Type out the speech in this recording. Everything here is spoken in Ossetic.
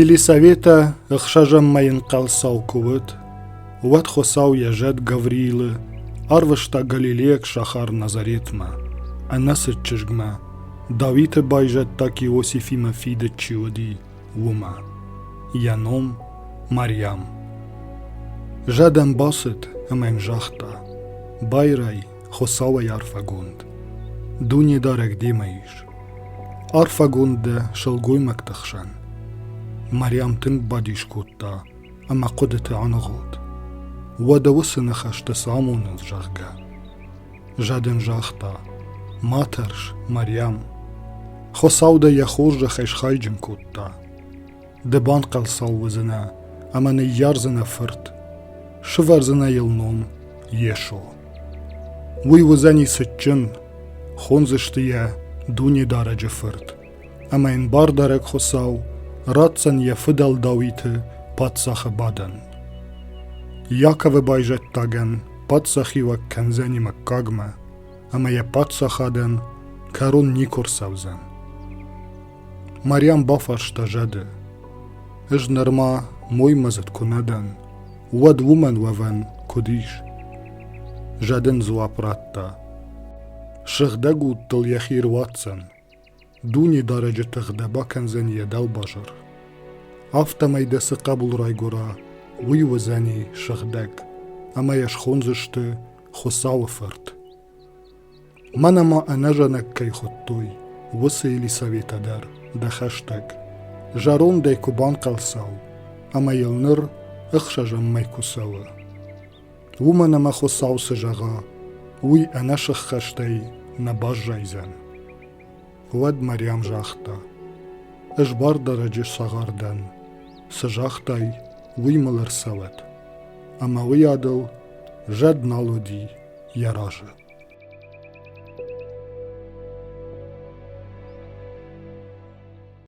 Елисаветӕ ӕхсӕзӕммӕ ӕнхъӕлцау куы уыд, уӕд Хуыцау йӕ зӕд Гавриилы арвыста галилейаг сахар Назаретмӕ, ӕнӕцыд чызгмӕ, Дауиты байзӕддаг Иосифимӕ фидыд чи уыди, уымӕ. Йӕ ном Мариам. Зӕд ӕм бацыд ӕмӕ йын загъта: «Байрай, Хуцауӕй арфӕгонд, Дунедарӕг демӕ ис. Арфӕгонд дӕ сылгоймӕгты хсӕн. Мариам тынг бадис кодта ӕмӕ хъуыдыты аныгъуылд. Уӕдӕ уыцы ныхӕсты цы амонынц, зӕгъгӕ. Заден загъта, ма тӕрс, Мариам. Хуыцау дӕ йӕ хорзӕхӕй схайджын кодта. Ды банхъӕлцау уыдзынӕ ӕмӕ ныййардзынӕ фырт, сывӕрдзынӕ йыл ном Йесо. Уый уыдзӕни цытджын, хондзысты йӕ Дунедарӕджы Фырт, ӕмӕ йын Бардарӕг Хуыцау ратдзӕн йӕ фыдӕлдауиты паддзахы бадӕн. Иаковы байзӕддагӕн паддзахиуӕг кӕндзӕни мыггагмӕ, ӕмӕ йӕ паддзахадӕн кӕрон никуы рцӕудзӕн. Марьям бафарста зӕды, Ӕз нырма моймӕдзыд куы нӕ дӕн, уӕд уымӕн уӕвӕн куыд ис? Зӕд ын дзуапп радта. Сыгъдӕг удтыл йӕхи руадздзӕн. Дунидарӕджы тых дӕ бакӕндзӕн йӕ дӕлбазар. Афтӕмӕй дӕ цы хъӕбул райгуыра, уый уыдзӕни сыгъдӕг, ӕмӕ йӕ схондзысты Хуыцауы фырт. Мӕн ӕмӕ ӕнӕзӕнӕг кӕй хуыдтой, уыцы Елисаветӕ дӕр, дӕ хӕстӕг, зӕрондӕй куы банхъӕлцау ӕмӕ йыл ныр ӕхсӕзӕммӕ куы цӕуы. Уымӕн ӕмӕ Хуыцау цы зӕгъа, уый ӕнӕсыххӕстӕй нӕ баззайдзӕн. Уӕд Мариам загъта: Ӕз бардарӕджы цагъар дӕн. Цы загътай, уый мыл ӕрцӕуӕд. Ӕмӕ уыйадыл зӕд нал уыди, йӕ разы.